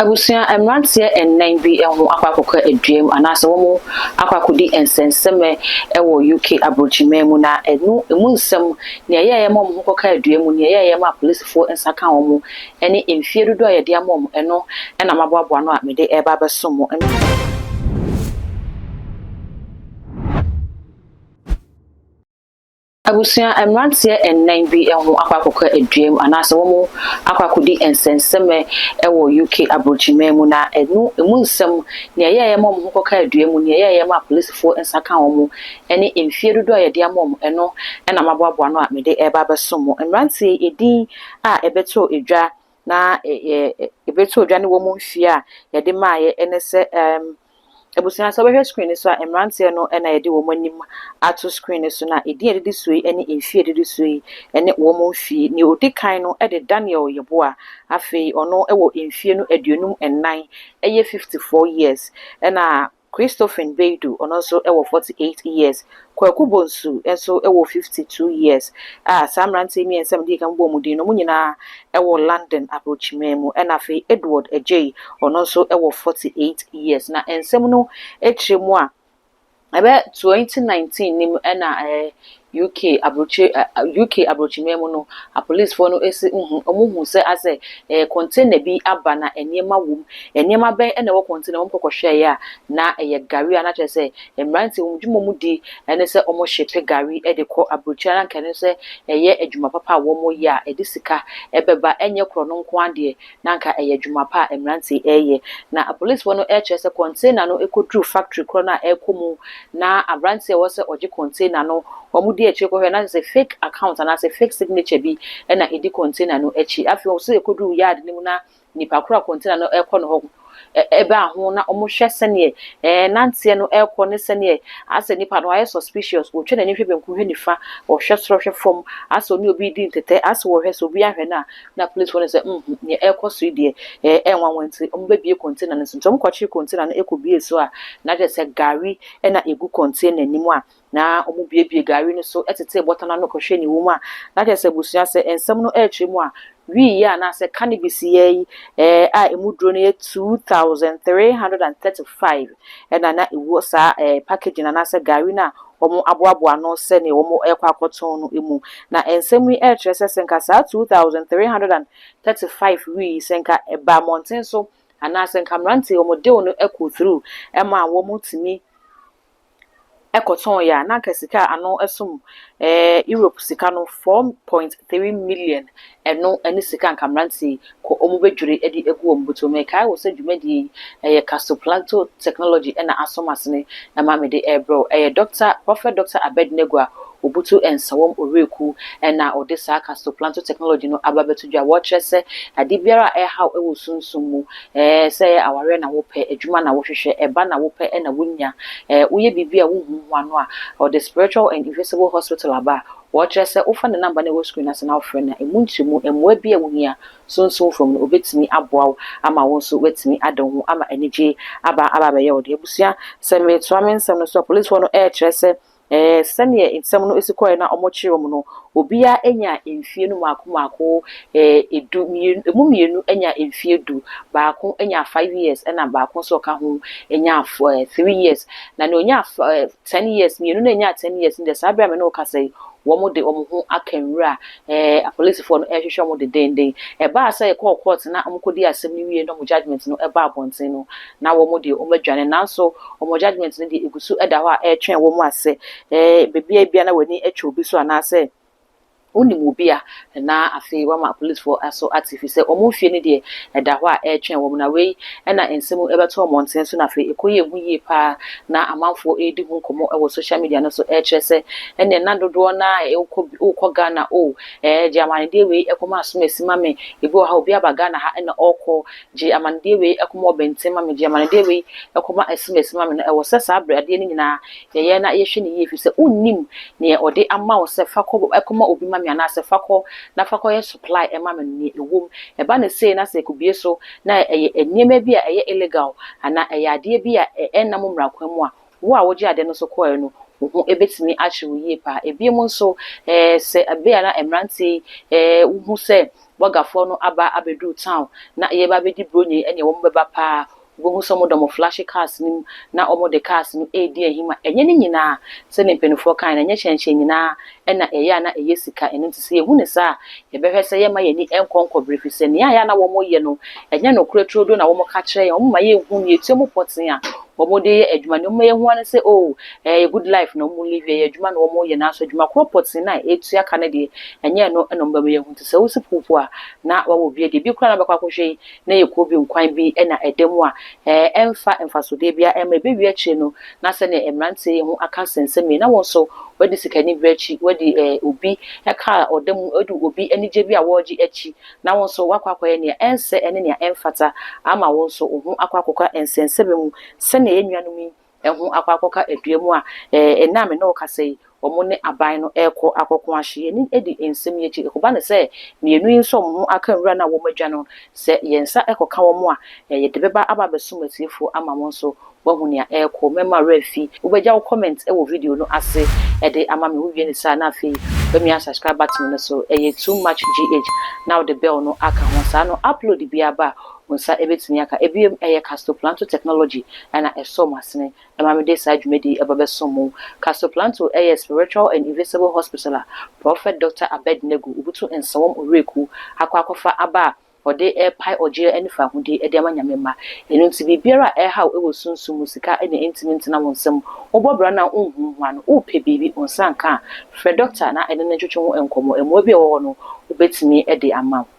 Abusua mmeranteɛ nnan bi ho akɔ akɔka aduam anaasɛ wɔn akɔ akɔdi nsɛnsɛmɛ wɔ UK aburokyiman mu na ɛno ɛmu nsɛm, nea ɛyɛeɛ ma wɔn ho kɔkaa aduam mu, nea ɛyɛeɛ ma apolisifoɔ nsa kaa wɔn, ɛne mfie dodoɔ a yɛde ama wɔn, ɛno na maboaboa ano a mede reba abɛso mo. Abusua mmeranteɛ nnan bi ho akɔ akɔka aduam anaasɛ wɔn akɔ akɔdi nsɛnsɛmɛ wɔ UK aburokyiman mu na ɛno ɛmu nsɛm, nea ɛyɛɛyɛ ma wɔn ho kɔkaa aduam mu, nea ɛyɛɛyɛ ma apolisifoɔ nsa kaa wɔn, ɛne mfie dodoɔ a yɛde ama wɔn, ɛno na maboaboa ano a mede reba abɛsom mo. Mmeranteɛ yi edin a ɛbɛtoo edwa na yɛbɛto dwa ne wɔn mfeɛ a yɛde maeɛ ne sɛ ɛɛm abusua sɛ wobɛhwɛ screen no so a mmeranteɛ no na yɛde wɔn anim ato screen no so na ɛdin a ɛdidi soɔ yi ne mfeɛ a ɛdidi soɔ yi ne wɔn mfeɛ. Nea ɔdi kan no de Daniel Yeboah. Afei ɔno wɔ mfeɛ no aduonum nnan, ɛyɛ fifty four years. Ɛna Christophine Beidu, ɔno nso wɔ forty eight years, Kwaku Bonsu nso wɔ fifty two years a saa mmeranteɛ yi mmiɛnsa a medii kan bobɔɔ wɔn din no, wɔn nyinaa wɔ London Abrokyiman mu, ɛna afei Edward Agyei, ɔno nso wɔ forty eight years. Na nsɛm no akyire mu a, ɛbɛ twenty nineteen no mu na UK aburokyire ɛ UK aburokyiman mu no, apolisifoɔ no si hu wɔhu sɛ asɛ ɛyɛ container bi aba na nneɛma wɔ mu. Nneɛma bɛn na ɛwɔ container mu? Wɔkɔ kɔhwɛeɛ a, na ɛyɛ gari a na kyerɛ sɛ mmeranteɛ wɔn adwuma a wɔdi ne sɛ wɔhyepe gari de kɔ aburokyire a na anka ɛno nso ɛyɛ adwuma papa a wɔyɛ a ɛde sika bɛba. Ɛnyɛ korɔno nko ara deɛ, na anka ɛyɛ adwuma pa a mmeranteɛ yi reyɛ. Na apolisifoɔ no kyerɛ sɛ container no kɔduru factory korɔ no a ɛrekɔ mu na aberanteɛ a ɔwɔ sɛ ɔgye container no, wɔdi akyire kɔhwɛ na kyerɛ sɛ fake account anaasɛ fake signature bi na ɛdi container no akyi. Afei wɔn nso ɛkɔduru yard no mu na nipa korɔ a container no rekɔ ne hɔ baa ho na wɔhwɛ sɛdeɛ ɛɛ nanteɛ no ɛrekɔ ne sɛdeɛ asɛ nipa no ayɛ suspicious wɔtwa n'ani hwɛ benkum hwɛ nifa wɔhwɛ soro hwɛ fam asɛ ɔne obi redi ntɛtɛ asɛ wɔhwɛ sɛ obi ahwɛ no a na policefoɔ no sɛ mhm nea ɛrekɔ so yi deɛ ɛɛ ɛnwanwa nti wɔbɛbie container no so nti wɔkɔkye container no ɛkɔbie so a na kyerɛ sɛ gari na ɛgu container anim a na wɔbuebue gari no so tetee bɔtɔ no ano kɔhwɛɛ nea ɛwɔ mu a, na kyerɛ sɛ abusua sɛ nsɛm no rekyerɛ mu a, wii yea anaasɛ cannabis yea yi eh, a emu duro no yɛ 2,335 ɛna na ɛwɔ saa eh, packaging anaasɛ gari no a wɔaboaboa ano sɛdeɛ wɔrekɔ akɔtɔn no mu. Na nsɛm yi rekyerɛ sɛ sɛ nka saa 2,335 wii sɛ nka ɛbaa mmɔnten so anaasɛ nka mmeranteɛ wɔn deal no ɛkɔ through ɛma wɔn tumi kɔtɔn yɛ a, na anka sika a ano som Europe sika no, 4.3 million, ɛno ne sika anka mmeranteɛ yi kɔ wɔbɛdwiri de agu wɔn bɔtɔ mu. Mekae wo sɛ dwumadie yi, ɛyɛ Casoplanto Technology na aso m'asene ma mede rebrɛ wo. Ɛyɛ Dɔkta, Prɔfɛt Dɔkta Abednego a Obutu Nsawam Owureku na ɔde saa Castoplanto technology no aba abɛto dwa. Wɔkyerɛ sɛ ade biara a ɛrehaw wɔ sunsum mu, sɛ ɛyɛ awareɛ na wopɛ, adwuma na wohwehwɛ, ɛba na wopɛ na wonya, woyɛ biribi a wonhu ho ano a, ɔde Spiritual and Invisible Hospital aba a wɔkyerɛ sɛ wofa ne number no a ɛwɔ screen no ase na wofrɛ no a, ɛmu ntrɛmu mmoa biara a wohia sunsum fam no, ɔbɛtumi aboa wo ama wo nso woatumi ada wo ho ama anigyeɛ aba aba abɛyɛ wo dea. Abusua, sɛ meretoa me nsɛm no so a, polisfoɔ no ɛrekyerɛ sɛ Ɛɛ, sɛdeɛ nsɛm no si kɔeɛ na wɔkyeree wɔn no, obiara nyaa mfeɛ no mmaako mmaako, ɛɛ, du, mmienu, ɛmu mmienu nyaa mfeɛ du, baako nyaa five years, ɛna baako nso a ɔka ho nyaa f, ɛɛ, three years. Na deɛ ɔnyaa f, ɛɛ, ten years, mmienu no a ɛnyaa ten years no deɛ, saa berɛ a me ne wo kasa yi, wɔde wɔn ho aka nwura Ɛɛ, apolisifoɔ no rehwehwɛ wɔn dendeenden. Ɛbaa sɛ yɛkɔɔ kɔɔt na wɔkɔdii asɛm no wieeɛ na wɔn judgement no baa abɔnten no, na wɔn deɛ wɔadwane. Nanso wɔn judgement no deɛ, ɛgu so da hɔ a ɛretwɛn wɔn a sɛ baabiara biara na w'ani twɛ obi so anaasɛ wonim obi a, na afei wɔama apolisifoɔ nso ate. Ɛfiri sɛ wɔn fie no deɛ, ɛda hɔ a ɛretwɛn wɔn. Na wei Ɛnna nsɛm yi bɛtoo mmɔnten so, na afei ɛkɔ yɛɛ hu yie paa. Ná amanfoɔ redi ho nkɔmmɔ wɔ social media no so rekyerɛ sɛ, Ɛnneɛ na dodoɔ no ara a wokɔ bi wokɔ Ghana o, ɛɛ gye amannedeɛ wei kɔma Asomasi ma me, ebi wɔ ha a obi aba Ghana ha na ɔrekɔ, gye amannedeɛ wei kɔma Ɔbɛnten ma me, gye amannedeɛ wei kɔma Asomasi ma me. Na ɛwɔ sɛ saa berɛ adeɛ no nyinaa yɛyɛ na yɛhwɛ no yie, ɛfiri sɛ wonnim deɛ ɔde ama wo sɛ fa kɔ kɔma obi ma me anaasɛ fa kɔ na fa kɔyɛ supply ma me no, deɛ ɛwom. Ɛba no sei na sɛ ɛkɔbue so na ɛyɛ nneɛma bi a ɛyɛ illegal anaa ɛyɛ adeɛ bi a ɛnna mo mmara kwan mu a, wo a wogye adeɛ no so kɔeɛ no, wo ho bɛtumi akyere wo yie paa. Ebinom nso, sɛ ɛbɛyɛ na mmeranteɛ yi wohu sɛ bɔgafoɔ no aba abɛduru town na yɛreba abɛdi Buronya yi ɛnneɛ wɔbɛba paa. Wobɛhu sɛ wɔde wɔn flashy cars no mu na wɔde cars no redi ahim a, ɛnyɛ ne nyinaa, sɛdeɛ mpanimfoɔ kaeɛ no, ɛnyɛ hyɛnhyɛn nyinaa na ɛyɛ a na ɛyɛ sika. Ɛno nti sɛ yɛhu no saa a, yɛbɛhwɛ sɛ yɛremma yɛn ani nkɔ nkɔbere, ɛfiri sɛ nea ɛyɛ a na wɔyɛ no, ɛnyɛ nokorɛ turodoo na wɔka kyerɛ yɛn. Wɔma yɛnhu nea ɛtua mu pɔtee a wɔde yɛ adwuma. Nea wɔma yɛhu ara ne sɛ, oo, ɛyɛ good life na wɔlive, ɛyɛ adwuma na wɔyɛ, nanso adwuma korɔ pɔtee no a ɛtua ka no deɛ, ɛnyɛ ɛno na wɔbɛma yɛahu. Nti sɛ wosi po mpo a, na wɔawo obi adi. Ebi koraa a na wɔbɛkɔ akɔhwɛ yi, na ɛyɛ kuro bi nkwan bi na ɛda mu a, ɛɛ, ɛmfa mfasodeɛ biara mma. Ɛbɛwie akyire no, na sɛdeɛ mmeranteɛ yi ho aka sensɛm yi, na wɔn nso wɔadi sikaniberɛ akyi, wɔadi ɛɛ, obi car a ɔda mu, wɔadi obi anigyeɛ bi a wɔregye akyi, na wɔn nso wɔakɔ akɔyɛ nea ɛnsɛ ne nea ɛmfata ama wɔn nso wɔn ho akɔ akɔka nsɛnsɛmma mu sɛdeɛ yɛn nuanom yi ho akɔ akɔka dua mu a, ɛɛ, nna a me ne wo kasa yi, wɔn ne aban no rekɔ akɔko ahye yɛn. Yɛn ani di nsɛm yi akyi. Ɛkɔba no sɛ, mmienu yi nso a wɔn ho aka nwura no a wɔadwa no, sɛ yɛn nsa kɔka wɔn a, ɛɛ, yɛde bɛba aba abɛsom atiefoɔ ama wɔn nso wɔahu nea ɛrekɔ. Mɛma wo werɛ afi. Wobɛgya wo comment wɔ video no ase de ama me. Wowie no saa a, na afei woamia subscribe button no so. Ɛyɛ Too Much GH, na wode bell no aka ho. Saa no, upload biara ba a, Wo nsa bɛtumi aka. Ɛbiom, ɛyɛ Castroplanto technology na ɛsɔɔ mo asene ma me de saa dwumadi yi ba bɛsom mo. Castroplanto yɛ spiritual and invisible hospital a Prɔfɛt Dɔkta Abednego Obutu Nsawam Owuraku akɔ akɔfa aba a ɔde repae ɔgyeɛ ne faahodi de ama Nyame mma. Ɛno nti biribiara a ɛrehaw wɔ sunsum mu, sika na ɛntumi ntena wo nsam, wobɔ bra no a wonhunhua no, wopɛ biribi, wo nsa nka a, frɛ Dɔkta na ɛne no ntwetwe ho nkɔmmɔ, mmoa bi a ɛwɔ hɔ no, ɔbɛtumi de ama wo.